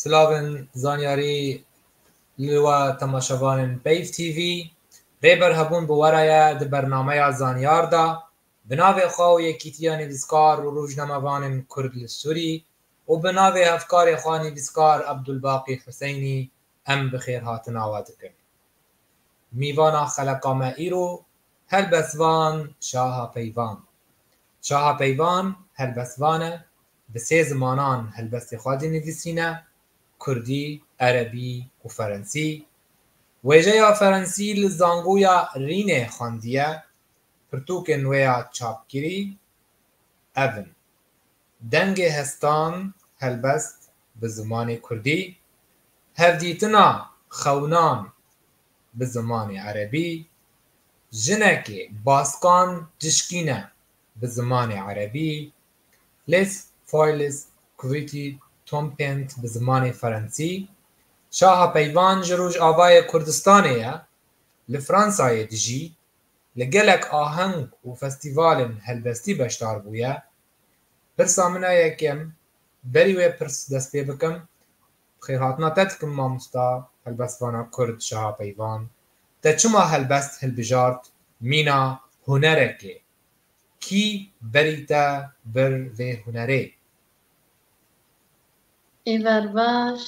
Silavên zanyarî li we temaşevanên Peyv TV. Rêber hebûn bi were ye di bernameya Zanyar de bi navê xwe û Yekîtiya Nivîskar û Rojnamevanên Kurd li Sûrî û bi navê hevkarê xwe nivîskar Ebdulbaqî Huseynî em bi xêrhatina we dikin. Mîvana xeleqa me îro helbest van Şaha Peyvan. Şaha Peyvan helbestvan e, bi sê zimanan helbestê xwe dinivîsîne, kurdî, erebî û ferensî. Wêjeya ferensî li zangoya Rînê xwendiye, pirtûkên wê ya çapkirî ev in. Dengê hestan helbest bi zimanê kurdî, hevdîtina xewinan bi zimanê erebî, jinekê baskan dişkîne bi zimanê erebî, Les Foyles Kuvîtî Tompent bi zimanê ferensî, şaha peyvan ji Rojavayê Kurdistanê ye, li Fransayê dijî, li gelek aheng û festîvalên helbestî beşdar bûye. Pirsa min a yekem, berî wê pirs dest pê bikim, bi xêrhatina te dikim mamosta helbestvana kurd Şaha Peyvan, te çima helbest hilbijart mîna hunerekê? Kî berî te bir vê hunerê? Êvar baş,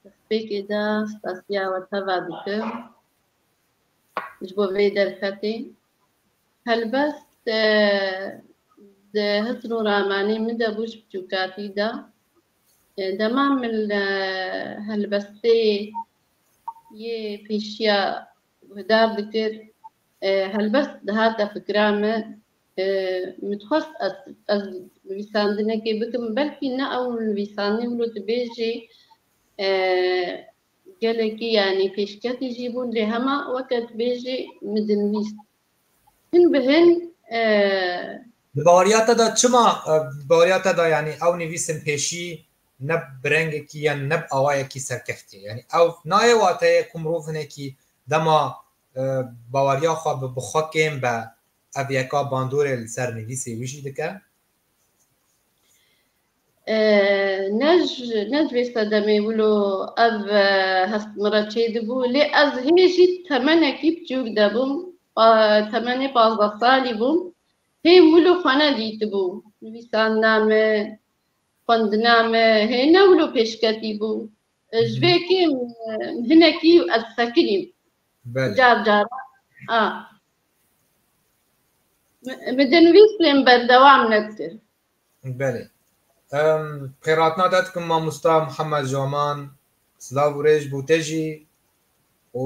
destpêkê de spasiya we teva dikim ji bo vê derfetê. Helbet di hit û ramanî min de bû ji biçûkatî de. Dema min li helbestê yê pêşiya guhdar dikir, helbest dihate fikra me. Min dixwest ez nivîsandinekê bikim, belkî ne ew nivîsandin bû tu bê jî gelekî yanî pêşketî jî bûn. Lê hema weke tu bê jî min dinivîst. Hin bi hin Di baweriya te de çima di baweriya te de yanî ew nivîsên pêşî ne bi rengekî yan ne bi awayekî serkeftî ye. Yanî ew nayê wateyê ku mirov hinekî dema baweriya xwe bi bi xwe kêm be ev yeka bandorê li ser nivîsê wî jî dike. Ne ji vê sedemê wilo ev hest min re çêdibû lê ez hê jî temenekî piçûk de bûm temenê pazdeh salî bûm hê wilo xwe ne dîtibû nivîsandina me xwendina me hê ne wilo pêşketî bû ji vê kêm hinekî ez sekinîm car caran a Bi dinvîstên berdewam nedikir. Belê. Xêratina te dikim mamosta Mihemed Jaman. Silav û rêj bo te jî û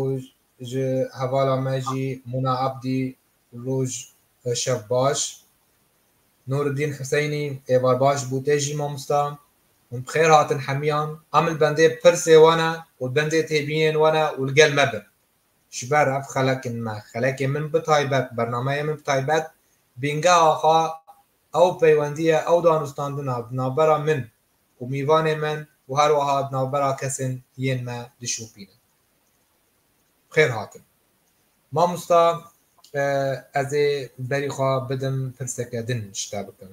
ji hevala me jî Mûna Ebdî roj û şev baş. Nûriddîn Huseynî êvar baş bo te jî mamosta. Hûn bi xêr hatin hemiyan. Em li bendê pirsê wan e û li bendê têbînên wan e û li gel me bin. Ji ber ev xelekên me, xelekê min bi taybet, bernameyê min bi taybet Bînge Axa, ew peywendiya, ew danûstandina di navbera min û mîvanê min û her wiha di navbera kesên yên me dişopîne. Bi xêr hatin. Mamosta ez ê berî xwe bidim pirseke din ji te bikim.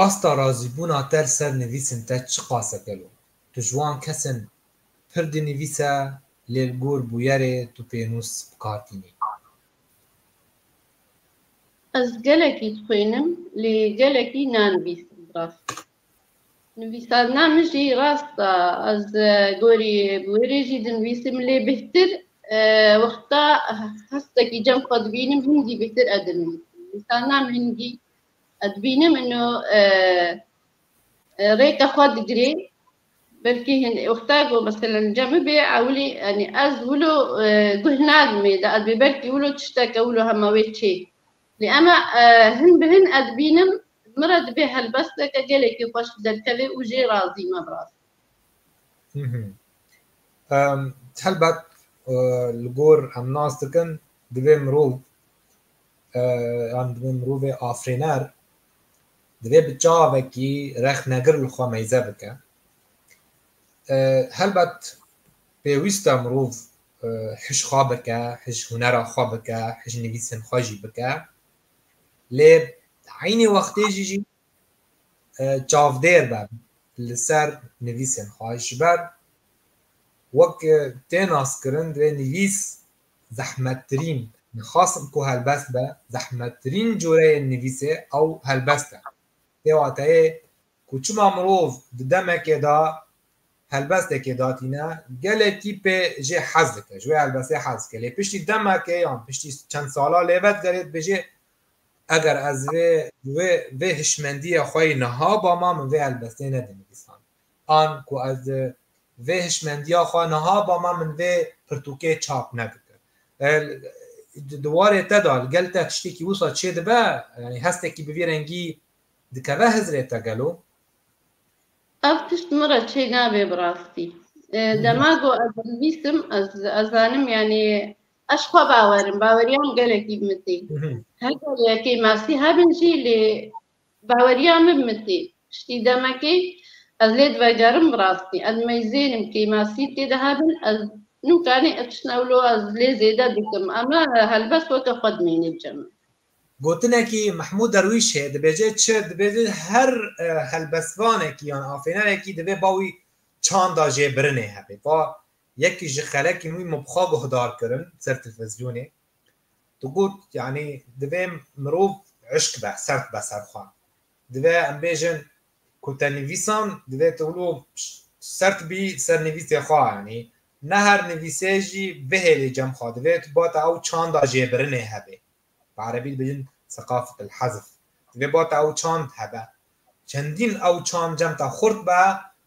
Asta razîbûna te li ser nivîsên te çiqas e gelo? Tu ji wan kesên Pir dinivîse lê li gor bûyerê tu pênûs bi kar tînî. Ez gelekî dixwînim lê gelekî nanivîsim rast. Nivîsandina min jî rast e. Ez gorî bûyerê jî dinivîsim lê bêhtir wexta hestekî cem xwe dibînim hingî bêhtir e dinivîsim. Nivîsandina min hingî ez dibînim ino rêka xwe digirê Belkî hin wexta ku mesela li cem bibe ewilî yanî ez wilo guh nadim ê di edbê belkî wilo tişteke wilo hema wê çê lê ema hin bi hin ez bînim min re dibê helbesteke gelekî xweş derkeve û jê razî me bi rastî. Helbet li gor em nas dikin divê mirov yan divê mirovê afirêner Divê bi çavekî rexnegir li xwe meyze bike. Helbet pêwîst e mirov hişk xwe bike, hişk hunera xwe bike, hişk nivîsên xwe jî bike. Lê eynî wextê jî jî çavdêr be li ser nivîsên xwe. Ji ber wek tê naskirin divê nivîs Zehmettirîn, Nixwastim ku helbest be, zehmettirîn coreyê nivîsê ew helbest e. Tê wateyê ku çima mirov di demekê de helbestekê datîne, gelekî pê jê hez dike, ji wê helbestê hez dike. Lê piştî demekê yan piştî çend sala lê vedigerê dibêjê eger ez vê vê hişmendiyê xwe yî niha bama min vê helbestê nedinivîsand. An ku ez vê hişmendiya xwe niha bama min vê pirtûkê çap nedikir. Di warê te de li gel te tiştekî wisa çêdibe? Yanî hestekî bi vî rengî dikeve hizrê te gelo? Ev tişt min re çênabe bi rastî. Dema ku ez dinivîsim ez zanim yanî ez xwe bawerim, baweriya min gelekî bi min tê. Heger yekê masî hebin jî lê Baweriya min bi min tê. Piştî demekê ez lê divegerim bi rastî. Ez meyzênim kêmasî tê de hebin. Ez nûkanê ev tişt ewlo ez lê zêde dikim. Ema helbest weke xwe dimênê bi cem e. Gotinekî Mehmûd Derwîş heye dibêje çi? Dibêje her helbestvanekî yan afênerekî divê ba wî çanda jê birinê hebê. Va yekî ji xelekî min wî min bi xwe guhdar kirin ser telfezyonê. Tu got yanî divê mirov eşk be, sert be ser xwe. Divê em bêjin ku te nivîsan divê tu wilo sert bî ser nivîsê xwe yanî ne her nivîsê jî bihêlî cem xwe divê tu bate ew çanda jêbirinê hebe. Bi erebî dibêjin sekafet el-hazf. Divê bate ew çand hebe. Çendîn ew çand cem te xurt be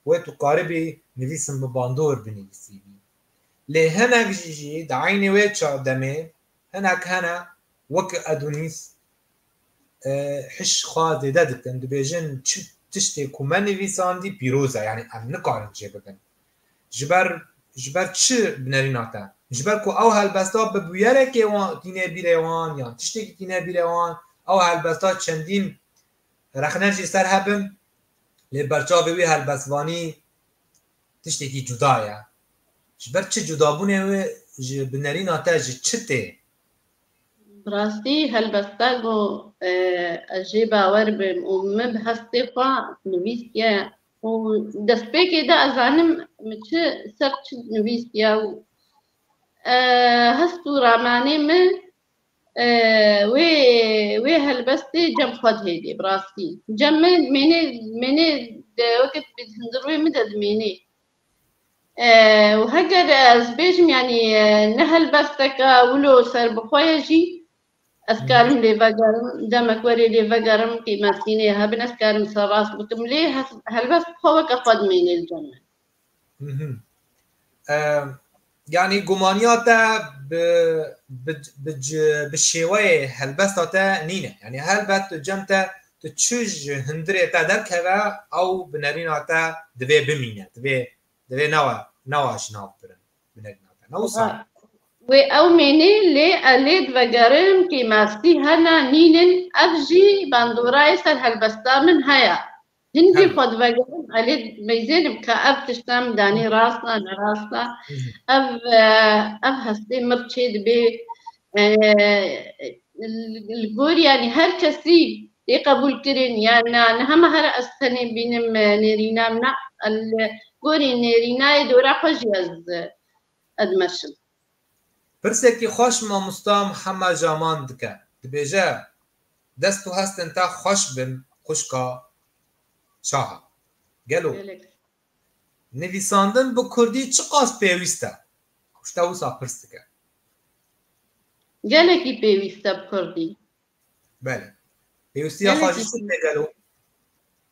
wê tu karibî nivîsin bi bandor binivîsî. Lê hinek jî jî di eynî wê çavdemê hinek hene weke Edûnîs hişk xwe zêde dikin dibêjin çi tiştê ku me nivîsandî pîroz e yanî em nikarin jê bibin. Ji ber ji ber çi bi nerîna te? Ji ber ku ew helbesta bi bûyerekê wan tîne bîrê wan yan tiştekî tîne bîrê wan ew helbesta çendîn rexne jî ser hebin lê berçavê wî helbestvanî Tiştekî cuda ye. Ji ber çi cudabûnê wê ji binerîna te ji çi tê? Bi rastî helbesta ku ez jê bawer bim û min bi hestê xwe nivîstiye û destpêkê de ez zanim min çi ser çi nivîstiye û hest û ramanê min Wê wê helbestê cem xwe dihêlî bi rastî. Cem me mênê mênê de weke tu bî hundir wê min de dimênê. Û heger ez bêjim yanî ne helbesteke wilo serbixwe ye jî ez karim lê vegerim demek werê lê vegerim qîmetînê hebin ez karim ser rast bikim lê helbest bi xwe weke xwe dimênê li cem me. Yanî gumaniya te bi şêweyê helbesta te nîne. Yanî helbet tu cem te tu çi ji hundirê te derkeve ew bi nerîna te divê bimîne. Divê divê newe newa ji nav birin bi nerîna te. Ne wisa ye? Wê ew mînî lê ez lê divegerim kê mastî hene nînin ev jî bandorayê ser helbesta min heye. Hin jî xwe divegerin elê beyzêne bike ev tişt em danî rast e nerast e. Ev ev hestê mir çê dibê li gorî yanî her kesî tê qebûlkirin ya na ne hema her ez tenê bînim nêrîna min e li gorî nêrînayê dora xwe jî ez dimeşim. Pirsekî xweş mamosta Mihemed Jaman dike. Dibêje, Dest û hestên te xweş bin xwişka Çaha. Gelo nivîsandin bi kurdî çiqas pêwîst e? Ji te wisa pirs dikim. Gelekî pêwîst e bi kurdî. Belê. Pêwîstiya xwe ji çi tê gelo?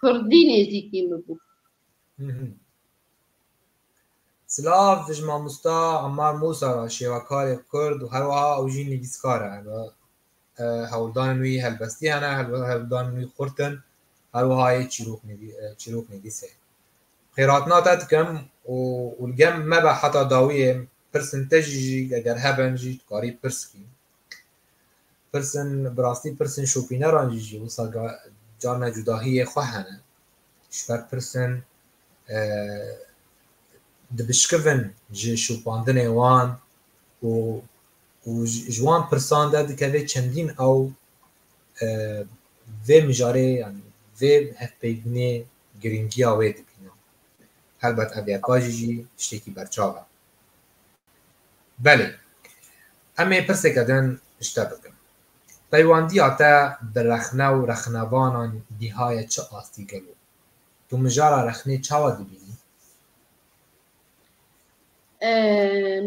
Kurdî nêzîkî min bû. Silav ji mamosta Emmar Mûsa re şêwekarê Kurd û herwiha ew jî nivîskar e. Hewldanên wî helbestî hene, hewldanên wî xurt in, herwiha yê çîroknivîs e. Xêratina te dikim û li gel me be heta dawiyê pirsên te jî eger hebin jî dikarî pirs bikî. Pirsên bi rastî pirsên şopîneran jî jî wisa carna cudahiyê xwe hene. Ji ber pirsên dibişkivin ji şopandinê wan û û ji wan pirsan de dikeve çendîn ew vê mijarê yanî vê hevpeybûnê girîngiya wê dibîne. Helbet ev yeka jî jî tiştekî berçav e. Belê. Em ê pirsêke din ji te bikin. Peywandiya te bi rexne û rexnevanan gîhaye çi astî gelo? Tu mijara rexnê çawa dibînî?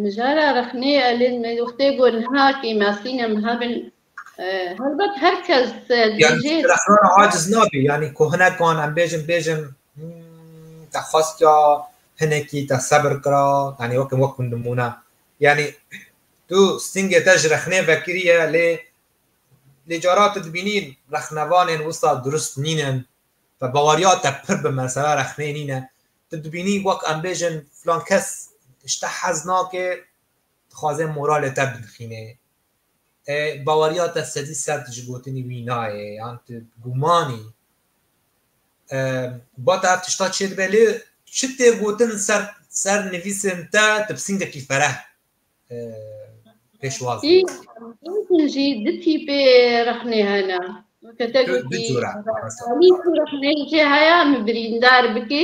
Mijara rexnê, Elîz, me wextê ku niha kêmasîn em hebin Helbet her kes dibêje. Rexnana aciz nabî yanî ku hinekan em bêjin bêjin te xwestiya hinekî te sebir kira yanî weke wek ku nimûne yanî tu stingê te ji rexnê vekiriye lê lê cara tu dibînî rexnevanên wisa dirust nînin te baweriya te pir bi mesela rexnê nîne tu dibînî wek em bêjin filan kes ji te hez nake dixwaze moralê te binixîne. Baweriya te sedî sed ji gotinî wî nayê yan tu gûman î. Ba te ev tişta çê dibe lê çi tê gotin ser ser nivîsên te tu bi singekî fereh pêşwaz bî. Gotin jî du tîpê rexnê hene. Weke te gotî rexneyê çê heye min birîndar bikî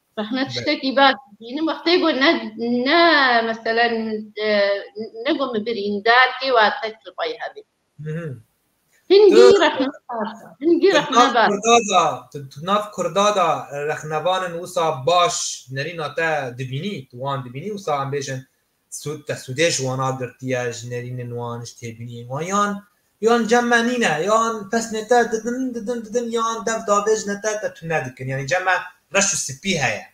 Rehmet tiştekî baş dibînim wextê ku ne ne meselen ne ku min birîn derkê wa tek li xwe yê hebê. Hingî rexne baş e. Hingî rexne baş e. Tu nav Kurda de rexnevanin wisa baş nerîna te dibînî, tu wan dibînî wisa em bêjin Sûd te sûdê ji wan a girtiye, ji nêrînên wan, ji têbîniyên wan yan yan cem me nîne yan pesnê te didin didin didin yan dev davêjine te te tune dikin yanî cem me reş û sipî heye.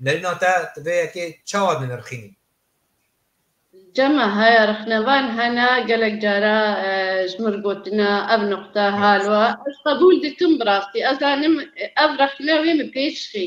Nêrîna te tu vê yekê çawa dinirxînî? Cem me haya rixnevan hene gelek cara ji min gotine ev nuqte halwa ez qebûl dikim bi rastî ez zanim ev rexne wê min pêçixî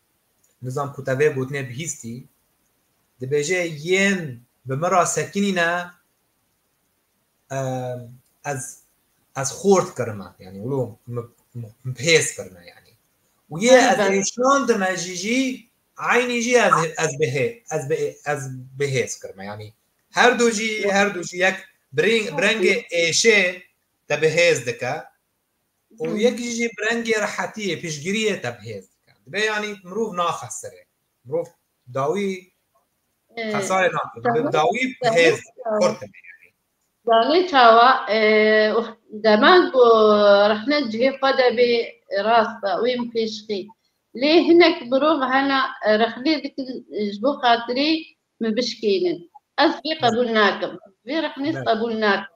Nizam ku te vê gotinê bihîstî, dibêje yên bi min re sekinî ne ez ez xort kirime yanî wilo min pêz kirine yanî û yê ez ê şandime jî jî eynî jî ez ez bihê ez bi ez bihêz kirime yanî her du jî her du jî yek birêng birengê êşê te bihêz dike û yekî jî bi rengê rehetiyê piştgiriyê te bi hêz dikin. Dibe yanî mirov naxesire. Mirov dawî xesarê nakin. Bi dawî bi hêz xurt dibe. Danî çawa deman ku rehne cihê xwe de bê rast e wê min pêş xî. Lê hinek mirov hene rexnê dikin ji bo xatirê min bişkênin. Ez vê qebûl nakim. Vê rexnê qebûl nakim.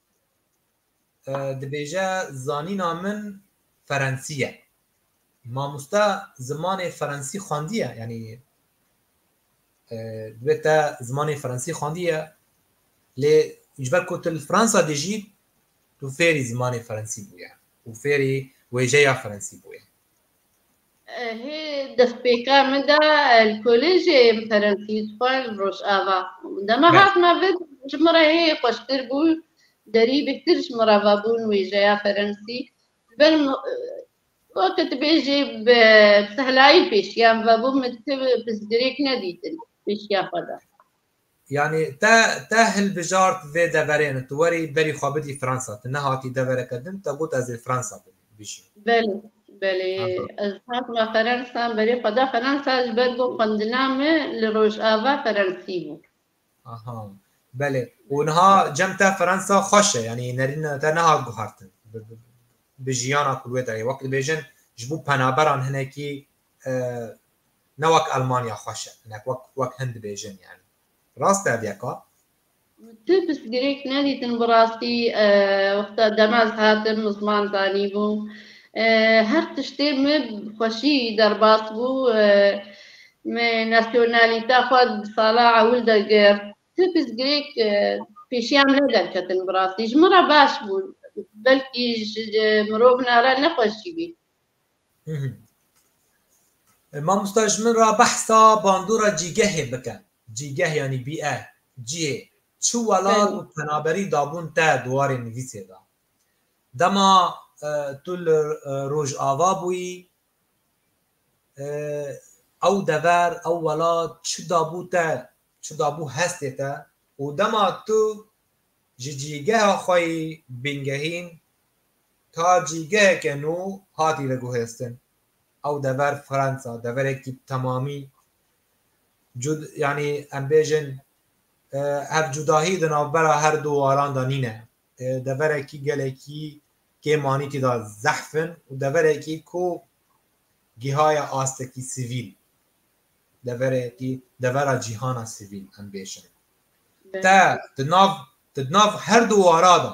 Dibêje zanîna min ferensî ye. Mamoste zimanê ferensî xwendiye yanî divê te zimanê ferensî xwendiye lê ji ber ku tu li Fransa dijî tu fêrî zimanê ferensî bûye û fêrî wêjeya ferensî bûye. Hê destpêka min de li kolêjê Ferensî dixwar li Rojava. Dema hatina vi ji min re hê xweştir bû, derî bêhtir ji min re vebû wêjeya Ferensî. Ji ber weke tu bêjî bi sehlayî pêşiyan vebû min tu pirsgirêk nedîtin pêşiya xwe de. Yanî te te hilbijart vê deverê ne, tu werî berî xwe bidî Fransa, tu nehatî devereke din, te got ez ê Fransa bijîm. Belê, belê, ez hatime Ferensa, berê xwe da Ferensa ji ber ku xwendina me li Rojava Ferensî bû. Aha, belê, û niha cem te Ferensa xweş e, yanî nerîna te nehat guhertin bi jiyana ku li wê de heye, wek dibêjin ji bo penaberan hinekî ne wek Almanya xweş e, hinek wek hin dibêjin yanî. Rast tevdeka? Tu pirsgirêk nedîtin bi rastî wexta dema ez hatim min ziman zanîbûm her tiştê min bi xweşî derbas bû min nasyonalîta xwe di sala ewil de girt. Ti pirsgirêk pêşiya min ne derketin bi rastî ji min re baş bûn belkî ji mirovina re ne xweş jî bî. Mamosta ji min re behsa bandora cîgehê bike. Cîgeh yanî bîe, cihê. Çi welat û penaberî dabûn te di warê nivîsê de? Dema tu li Rojava bûyî ew dever, ew welat çi dabû te, çi dabû hestê te û dema tu ji cîgeha xwe yî bingehîn, Ta cîgeheke nû hatî veguhêstin. Ew dever Fransa, deverekî bi temamî cud yanî em bêjin ev cudahî di navbera her du waran de nîne. Deverekî gelekî kêm anî tî de zehf in û deverekî ku gihaye astekî sivîl, deverekî devera cîhana sivîl em bêjin. Te di nav di nav her du wara de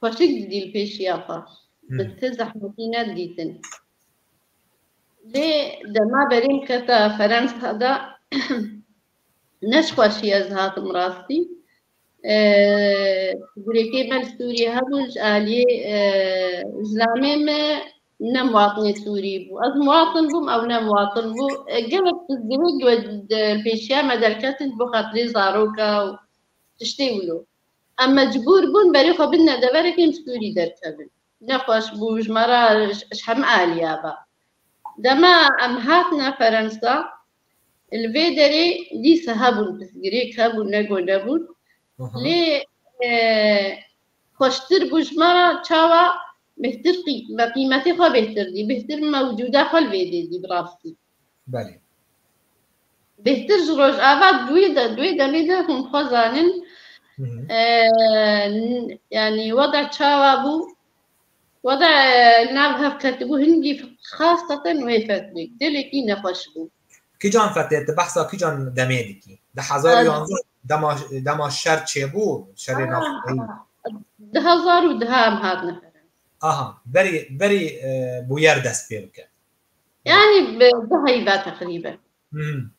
Xweşik didîm pêşiya xwe. Bi ti zehmetî nedidîtin. Lê dema berîm kete Ferensa de ne ji xweşî ez hatim rastî. Gurêkê me li Sûriyê hebû ji aliyê zilamê me ne miwatinê Sûrî bû. Ez miwatin bûm ew ne miwatin bû. Gelek pirsgirêk li pêşiya me derketin ji bo xatirê zaroka û tiştê wilo. Em mecbûr bûn berê xwe bidine deverek ên Sûrî derkevin. Nexweş bû, ji me re ji hemû aliya be. Dema em hatine Ferensa, li vê derê dîs hebûn, pirsgirêk hebûn, nego nebûn. Lê xweştir bû ji me re çawa bêhtir me qîmetê xwe bêhtir dî, bêhtir me wicûda xwe li vê dê dî bi rastî. Belê. Bêhtir ji Rojava duwî de duwî demî de hûn xwe zanîn yanî weda çawa bû weda li nav hev ketibû hingî xastaten wê fetbik dilekî nexweş bû. Kîjan fetê tu behsa kîjan demê dikî? Di hezar û yanzdeh dema dema şer çêbû şerê navxweyî. Di hezar û duhan hatine. Aha berî berî bûyer dest pê bike. Yani bi heybe teqrîben. Hmm.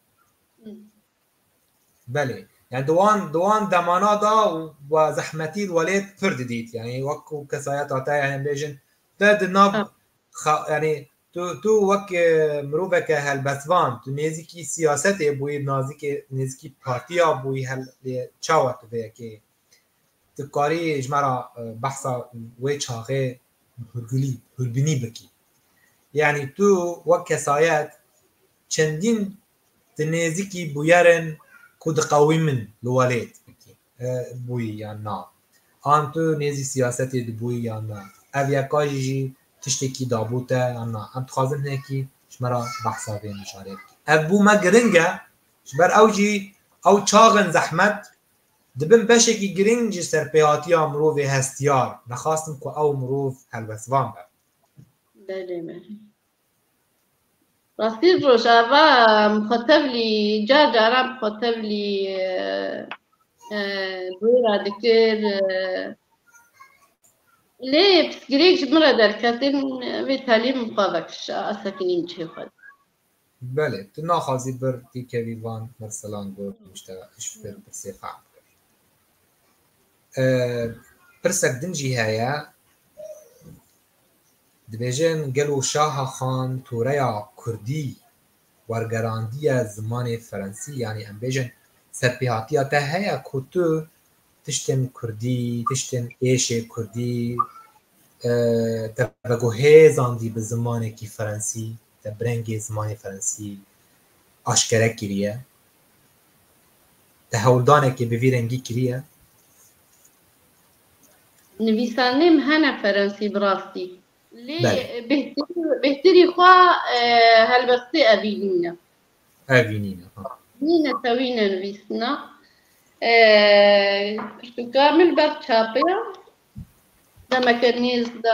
Belê. Yani di wan di wan demana da we zehmetî welêt pir didît. Yani wek ku kesayeta te yani bêjin te di nav yani tu tu wek e, miroveke helbestvan tu nêzîkî siyasetê bûyî nazîkê nêzîkî partiya bûyî hel çawa tu vê yekê Tu karî ji me re behsa wê çaxê Hurgulî, Hurbinî bikî. Yanî tu wek kesayet çendîn di nêzîkî bûyerên ku diqewîmin li welêt bikî. Bûyî yan na? An tu nêzî siyasetê dibûyî yan na? Ev yeka jî jî tiştekî dabû te yan na? Em dixwazin hinekî ji me re behsa vê mijarê bikî. Ev bû me giring e, ji ber ew jî ew çaxên zehmet Di bin beşekî girîng ji serpêhatiya mirovê hestiyar, nexastin ku ew mirov helwestvan be. Belê me. Rastî rojava em xwe tevlî car caran bi xwe tevlî bûra dikir. Lê pirsgirêk ji min re derketin vê telî min xwe vekişa, ez sekinîm cihê xwe. Belê, tu naxwazî bir tîkevî van mirsilan got û nişta ji pir pirsê fehm bikevî. Pirsek din jî heye, dibêjin gelo Şaha Xan toreya kurdî wergerandiye zimanê ferensî yanî em bêjin serpêhatiya te heye ku tu tiştên kurdî, tiştên êşê kurdî te vegohêzandî bi zimanekî ferensî? te bi rengê zimanê ferensî aşkere kiriye, te hewldanekê bi vî rengî kiriye? Nivîsandinêm hene ferensî bi rastî. Lê bêhtirî xwe helbestê evî nîne. Evî nîne, ha. Nîne tewîne nivîsina. Pirtûka min ber çape ya. Demeke nêz de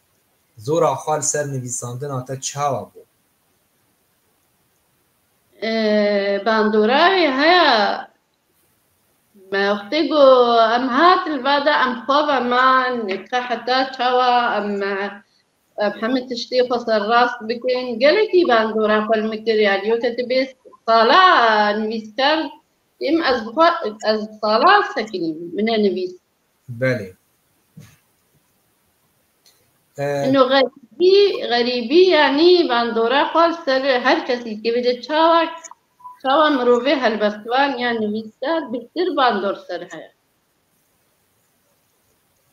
Zora xwe li ser nivîsandina te çawa bû? Bandora wê haya me wextê ku em hat li ba de em xwe veman ka heta çawa em hemû tiştê xwe serrast bikin. Gelekî bandora xwe li min kiriye. Dîyote tu bê sala nivîskar dîm ez bi xwe ez bi sala sekinîm min e nivîs. Belê. Ino xerîbî, xerîbî yanî bandora xwe li ser her kesî dikevîte. Çawa çawa mirovê helbestvan ya nivîskar bihtir bandor ser heye.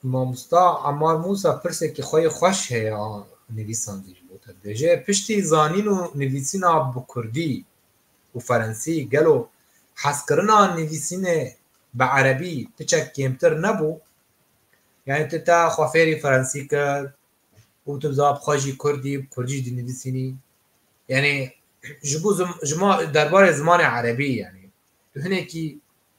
Mamosta Emar Mûsa pirsekî xwe yê xweş heye a nivîsandî ji bo te dibêje. Piştî zanîn û nivîsîna bi kurdî û ferensî gelo hezkirina nivîsînê bi erebî piçek kêmtir nebû? Yanî tu te xwe fêrî ferensî kir û tu za bi xwe jî kurdî bi kurdî jî dinivîsînî? Yanî ji bo ji ma derbarê zimanê erebî yanî tu hinekî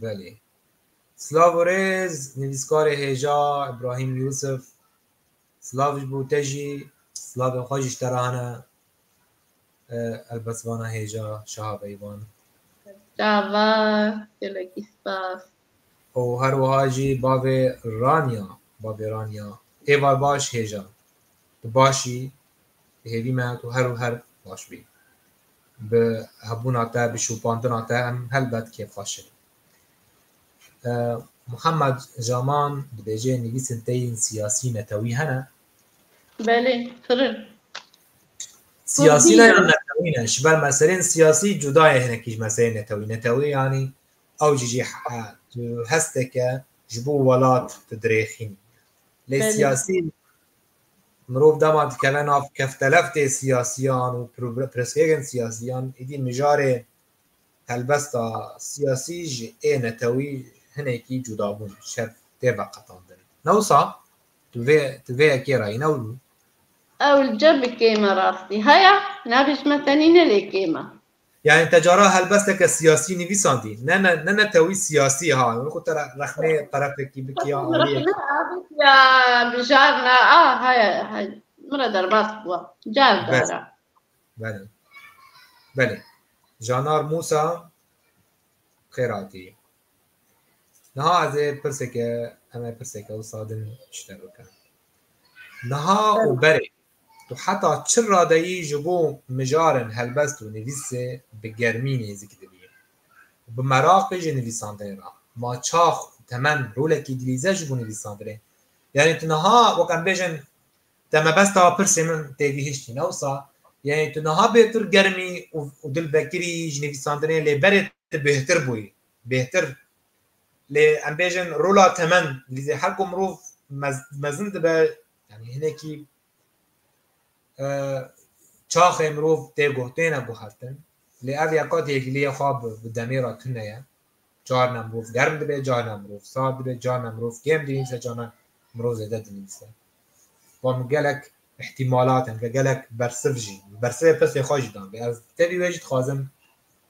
Belê. Silav û rêz nivîskarê hêja Îbrahîm Yûsif. Silav ji bo te jî, silavên xwe jî ji te re hene. Helbet vana hêja şaha Beyvan. Çava, gelekî spas. Û her wiha jî bavê Raniya, bavê Raniya. Êvar baş hêja. Tu baş î, Hêvî me ku her û her baş bî. Bi hebûna te, bi şopandina te em helbet kêfxweş in. Muhammed Jaman dibêje nivîsên te yên siyasî netewî hene? Belê, pir in. Siyasî ne ya netewî ne. Ji ber meselên siyasî cuda ye hinekî ji meselên netewî. Netewî yanî ew jî jî tu hesteke ji bo welat tu dirêxînî. Lê siyasî Mirov dema dikeve nav kefteleftê siyasiyan û pirsgirêkên siyasiyan êdî mijarê helbesta siyasî ji ê netewî hinekî cuda bûn şev tê veqetandin. Ne wisa? Tu vê tu vê yekê re yî ne wilo? Ewilca bi kême rastî heye, nabêjme tenî ne lê kême. Yanî te cara helbesteke siyasî nivîsandî. Ne ne ne ne tewî siyasî ha. Min xwe te rexmê terefekî bikî ya aliyekî. Ya mijarna a haya hay. Min re derbas bûwa. Car dara. Belê. Belê. Janar Musa xêr hatî. Niha ez ê pirseke em ê pirseke wisa din ji te bikim. Niha û berê Tu heta çi radeyî ji bo mijarên helbest û nivîsê bi germî nêzik dibî û bi meraqê ji nivîsandinê re ma çax û temen rolekî dilîze ji bo nivîsandinê yanî tu niha wek em bêjin te mebesta pirsê min têgihiştî ne wisa yanî tu niha bêtir germî û dilvekirî ji nivîsandinê lê berê tu bêhtir bûyî bêhtir lê em bêjin rola temen dilîze her ku mirov mezin dibe Yani hinekî çaxê mirov tê guhtêne guhertin lê ev ya qat yekiliya xwe bi demê re tune ye carna mirov germ dibe carna mirov sar dibe carna mirov kêm dinîse carna mirov zêde dinîse wan min gelek ihtimalat hene gelek bersiv jî bersivê pirsê xwe jî dan lê ez tevî wê jî dixwazim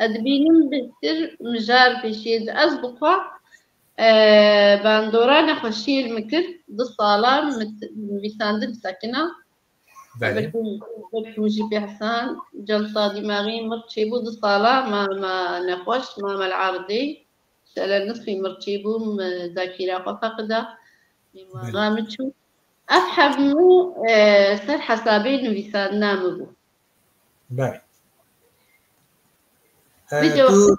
Ez dibînim bêhtir mijar pêşiyê ji ez bixwe bandora nexweşiyê li min kir. Du salan min nivîsandin sekina. Belê. Belkî min jî pê hesan celta dîmaxî mir çêbû. Du salan ma me nexweş ma me li erdê şele nisfî mir çêbû min zakîra xwe feqida. Mêmara min çû. Ev hemû ser hesabê nivîsandina min bû. Ber. Video. Tu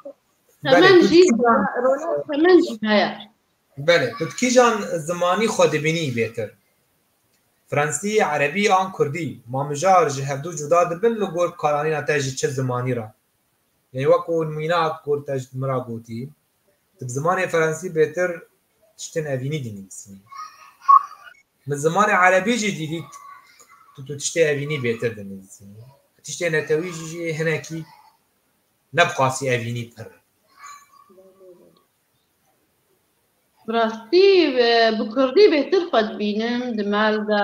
Hemen jî hemen jî heye. Belê, tu kîjan zimanî xwe dibînî bêtir? Fransî, Erebî an Kurdî? Ma mijar ji hevdû cuda dibin li gor karanîna te ji çi zimanî re? Lê wekû nimîna ku te ji min re gotî, Tu bi zimanê ferensî bêtir tiştên evînî dinivîsî. Bi zimanê erebî jî dîlî tu tu tiştê evînî bêtir dinivîsî. Tiştê netewî jî jî hinekî ne bi qasî evînî pir e. Bi rastî bi kurdî bêtir xwe dibînim di mel de.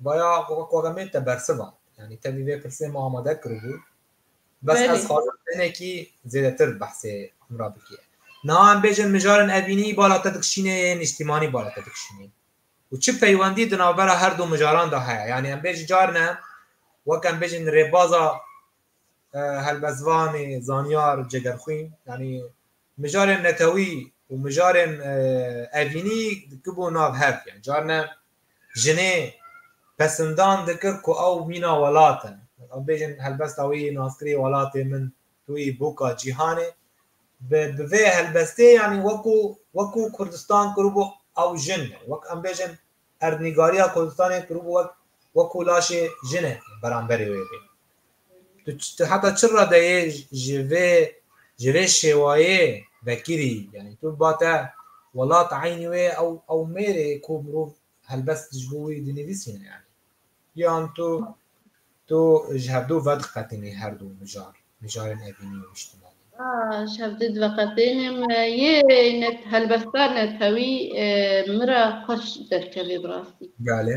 Baya koremê te bersiva. Yanî te vî vê pirsê min amade kiribû. Bes ez xwazim tenekî zêdetir behsê min re bikî. Niha em bêjin mijarên evînî bala te dikişînê yê nîştîmanî bala te dikişînê û çi peywendî di navbera her du mijaran de heye. Yanî em bêjin carine wek em bêjin rêbaza helbestvanê, zanyar, cegerxwîn yanî mijarên netewî û mijarên evînî dikibû nav hev. Yanî carine jinê pesindan dikir ku ew mîna welat e. Em bêjin helbesta wî yê naskirî welatê min, tu yî boka cîhanê. Bi bi vê helbestê yanî wekû wekû Kurdistan kiribû ew jin e. Wek em bêjin erdnîgariya Kurdistanê kiribû wek wekû laşê jin e beramberê wê bê. Tu tu heta çi radeyê ji vê ji vê şêwayê vekirî? Yanî tu ba te welat eynî wê ew ew mêrê ku mirov helbest ji bo wî dinivîsîne yanî. Yan tu tu ji hevdu vediqetinî herdu mijar mijarên evînî û nîştimanî? Ji hevdu diveqetînim. Yê net helbesta netewî min re xweş derkevê bi rastî. Belê.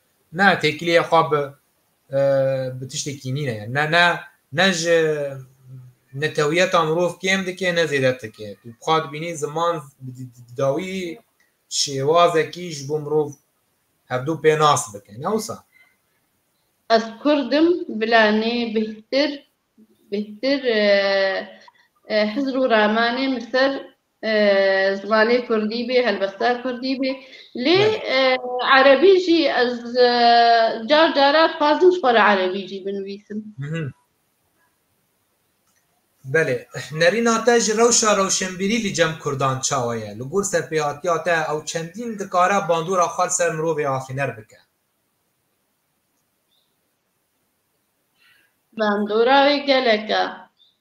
Na têkiliyê xwe bi bi tiştekî nîne ye. Ne ne ne ji netewiyeta mirov kêm dike ne zêde dike. Tu xwe dibînî ziman dawî şêwazekî ji bo mirov hevdû pê nas bike. Ne wisa? Ez kurd im bila nê bêhtir bêhtir Hizr û Ramanê min ser Zimanê kurdî bê, helbesta kurdî bê. Lê erebî jî ez car cara dixwazim ji xwe re erebî jî binivîsim. Belê. Nerîna te ji rewşa rewşenbîrî li cem kurdan çawa ye? Li gor serpêhatiya te ew çendîn dikare bandora xwe li ser mirovê afîner bike? Bandora wê gelek e.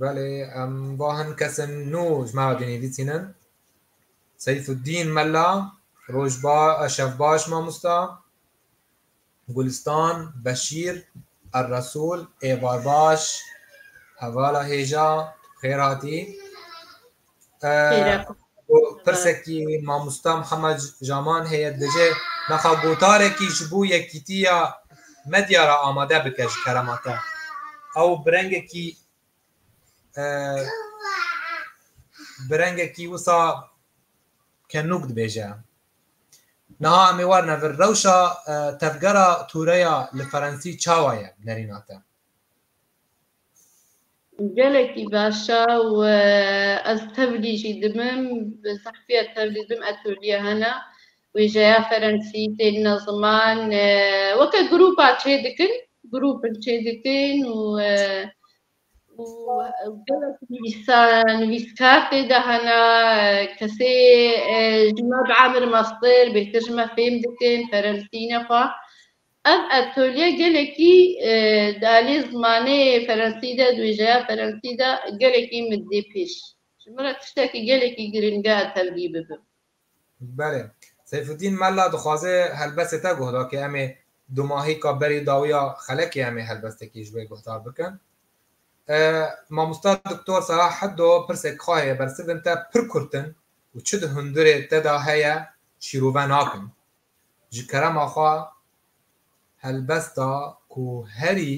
Belê em va hin kesên nû ji me re dinivîsîn in. Seyfudîn Mela, roj ba şev baş mamosta. Gulistan Beşîr, Erresûl, êvar baş, hevala hêja, xêr hatî. Pirsekî mamosta Mihemed Jaman heye dibêje naxa gotarekî ji bo yekîtiya medya re amade bike ji kerema te. Ew bi rengekî bi rengekî wisa kenûk dibêje. Niha em ê warine vir rewşa tevgera tûreya li ferensî çawa ye bi nerîna te? Gelekî başa û ez tevlî jî dimim bi zehfiya tevlî dim etolîya hena wêjeya ferensî tênina ziman weke grûpa çê dikin grûpin çê dikin û gelek nivîsa nivîskar tê de hena kesê ji me bi emir mester bêtir ji me fêm dikin ferensî ne xwe Ev atölye gelekî di aliyê zimanê ferensî de, di wêjeya ferensî de gelekî min dê pêş. Ji min re tiştekî gelekî girîng e tevlî bibim. Belê. Seyfudîn Mella dixwaze helbestê te guh da ke em ê dumahîka berî dawiya xelekê em ê helbestekî ji wê guhdar bikin. Mamosta Doktor Salah Heddo pirsek xwahê bersivin te pir kurt in û çi di hundirê te de heye şîrove nakin. ji kerema xwe helbest da ku herî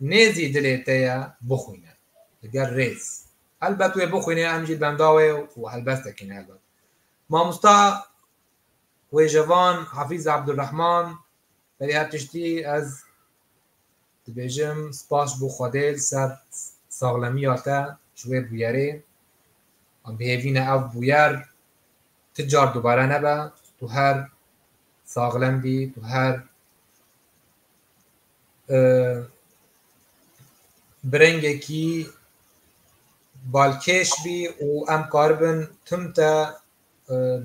nêzî dilê te ye bixwîne li gel rêz. Helbet wê bixwîne em jî benda wê û helbestekî ne helbet. Mamosta wêjevan Hafîz Abdulrahman berî her tiştî ez Dibêjim spas ji bo Xwedê li ser saxlemiya te ji wê bûyerê. Em bihêvîne ev bûyer ti car dubare nebe, tu her saxlem bî, tu her bi rengekî balkêş bî û em karibin tim te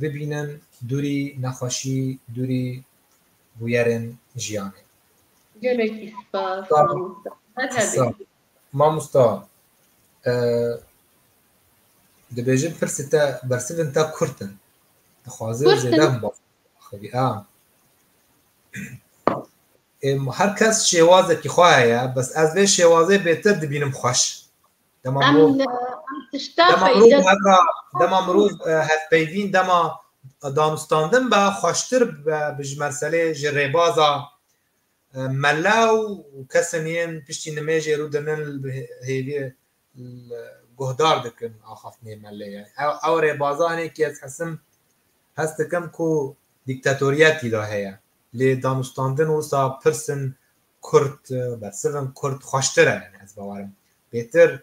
bibînin dûrî nexweşî, dûrî bûyerên jiyanê. Gelekî spas mamosta. Her hebî. Mamosta dibêjin pirsê te bersivên te kurt in. Dixwazin zêde min bas xivî. Her kes şêwazekî xwe heye bes ez vê şêwazê bêtir dibînim xweş. Dema Em mirov em tişta dema mirov peyda hevra dema mirov e, hevpeyvîn dema danûstandin be xweştir be bi ji merselê ji rêbaza e, mele û kesên yên piştî nimêjê rû dinin li bi hê- hêvî li guhdar dikin axaftinê melê ye. Ew, ew rêbaza hinekî ez hesim hest dikim ku dîktatoriyetî de heye. Lê danûstandin wisa pirsin Kurd bersiv in, kurd xweştir e yani ez bawer im. Bêtir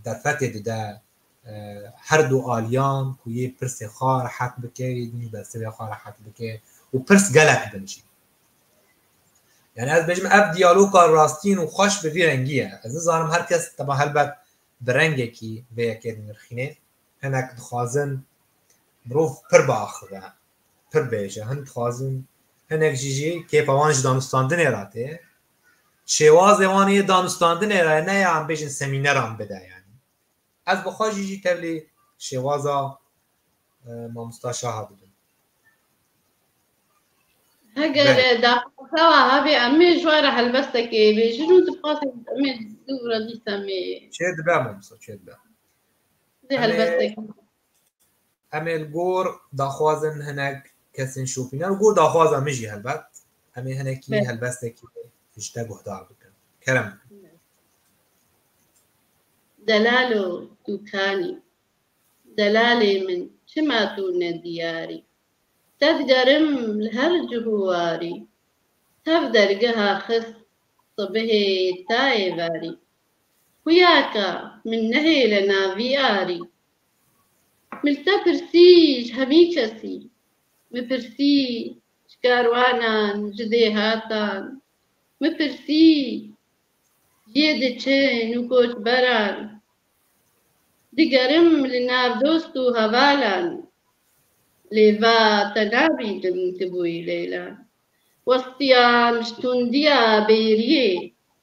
derfetê dide her du aliyan ku yê pirsê xwe rehet bike, yê din jî bersivê xwe rehet bike û pirs gelek bin jî. Yani ez bêjim ev diyaloga rastîn û xweş bi vî rengî ye. Ez nizanim her kes teba helbet bi rengekî vê yekê dinirxînê. Hinek dixwazin mirov pir biaxive pir bêj e, hin dixwazin hinek jî jî kêfa wan ji danûstandinê re tê. Şêwazê wan ê danûstandinê re ne ya em bêjin semîneran bide yanî. Ez bi xwe jî jî tevlî şêwaza mamosta Şaha dibim. Heger daxwaza hevê em ê ji wan re helbestekê bêjin û dixwazin em ê dû re dîsa me. Çê dibe mamosta çê dibe. Dê helbestekê. Em ê li gor daxwazên hinek kesên şopînan û gor daxwaza min jî helbet em ê hinekî helbestekî ji te guhdar bikin. Kerem. Delalo Dûkanî Delalê min çima tu ne diyarî Te digerim li her cih û warî Tev dergeha xist sibihê ta êvarî Xuyaka min nehêle navî arî Min te pirsî ji hemî kesî. Min pirsî ji karwanan, ji dêhatan. Min pirsî ji yê diçin û koçberan. Digerim li nav dost û hevalan. Lê va te nabînim tu bûyî leylan. Westiyan ji tundiya bêriyê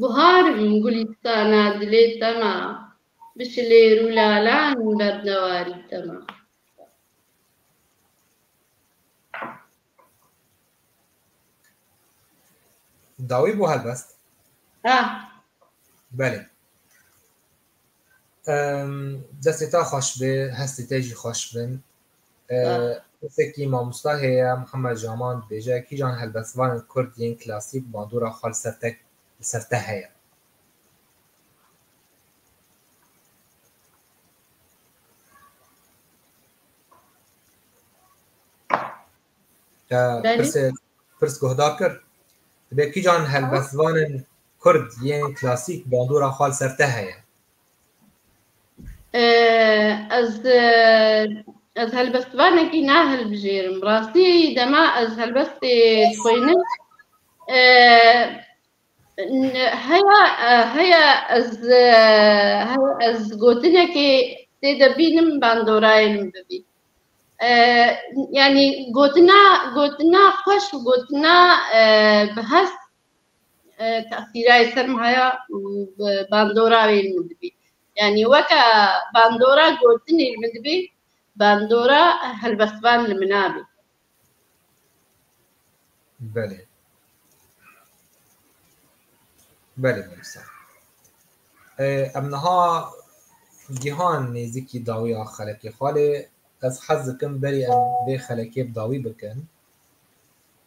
Buhar in gulîstana dilê te ma. Bi şilêr û lalan in bernewarî te ma. Dawî bû helbest? Ah. Belê. Destê te xweş bê, hestê te jî xweş bin. Kesekî mamosta heye Muhammed Jaman dibêje kîjan helbestvanên Kurd yên klasîk bandora xwe li ser te li ser te heye. Pirs guhdar kir dibê kîjan helbestvanên Kurd yên klasîk bandora xwe li ser te heye. Ez ez helbestvanekî nahilbijêrim. Bi rastî dema ez helbestê dixwînim heya heya ez heya ez gotinekê tê de bînim bandorayê min bibî. Yanî gotina gotina xweş û gotina bi hest Tesîrayê sermaya bi bandora wê min dibî. Yanî weke bandora gotinê li min dibî, bandora helbestvan li min abî. Belê. Belê Mûsa. Em niha gihan nêzîkî dawiya xelekê xalê. Ez hez dikim berî em vê xelekê bi dawî bikin.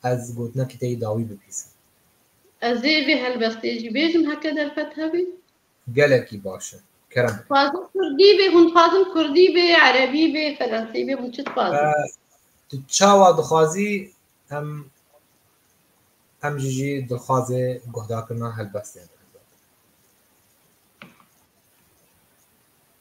Ez gotinekî te yê dawî bipîsim. Ez ê vê helwestê jî bêjim heke derfet hebî. Gelekî baş e. Kerem bike. Dixwazim kurdî bê, hûn dixwazin kurdî bê, erebî bê, ferensî bê, hûn çi dixwazin? Tu çawa dixwazî em em jî jî dixwazê guhdarkirina helbestê.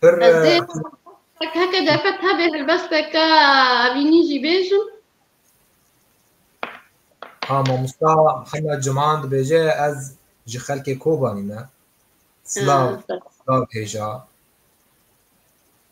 Pir Ez dê tek heke defe tevê helbesteke evînî jî bêjim. ha mamosta Mihemed Ciman dibêje ez ji xelkê Kobanî me. Silav, silav hêja.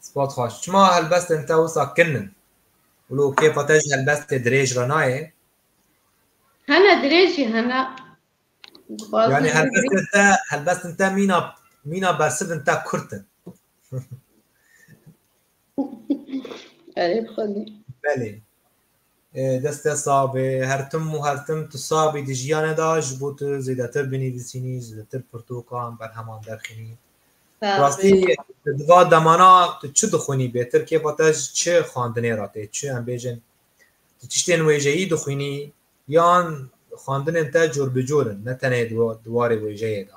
Spas xweş. Çima helbestên te wisa kin in? Wilo kêfa te ji helbestê dirêj re nayê? Hene dirêj jî hene. Yani helbestên te, helbestên te mîna mîna bersivin te kurt in. Erê xwedî. Belê. Dest te sax be. Her tim û her tim tu sax bî di jiyane de ji bo tu zêdetir binivîsînî, zêdetir pirtokan, berheman derxînî. Rastî di va demana tu çi dixwînî bêtir kêfa te ji çi xwendinê re tê, çi em bêjin tu tiştên wêjeyî dixwînî yan xwendinên te cor bi cor in ne tenê di warê wêjeyê de.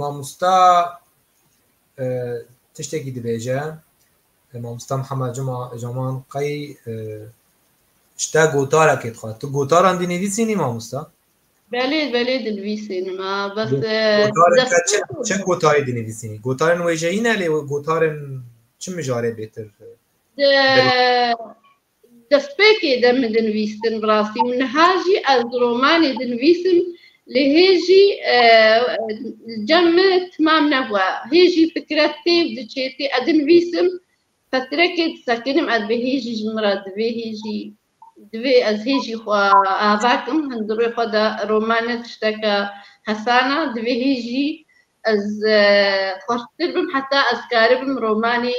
Mamosta tiştekî dibêje mamosta Mihemed Cuma Caman qey ji te gotarekê dixwe. Tu gotaran dinivîsînî mamosta? Belê belê dinivîsînim a bes çi gotarê dinivîsînî? Gotarên wêjeyî ne lê gotarên çi mijarê bêtir? Destpêkê de min dinivîstin bi rastî û niha jî ez di romanê dinivîsim lê hê jî cem me timam nebûe. Hê jî fikre tê û diçê tê. Ez dinivîsim, fetirekê disekinim ez bi hê jî ji min re divê hê jî divê ez hê jî xwe ava kim. Hin di rûyê xwe de roman ne tişteke hesan e. Divê hê jî ez xwerptir bim heta ez dikaribim romanê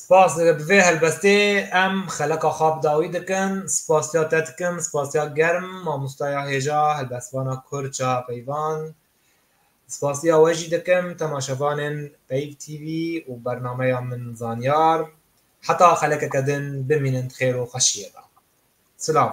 Spas bi vê helbestê em xeleka xwe bi dawî dikin. Spasiya te dikim, spasiya germ mamostaya hêja helbestvana Kurd Çaha Peyvan. Spasiya we jî dikim temaşevanên Peyv TV û bernameya Min Zanyar. Heta xelekeke din bimînin di xêr û xweşiyê de. Silav.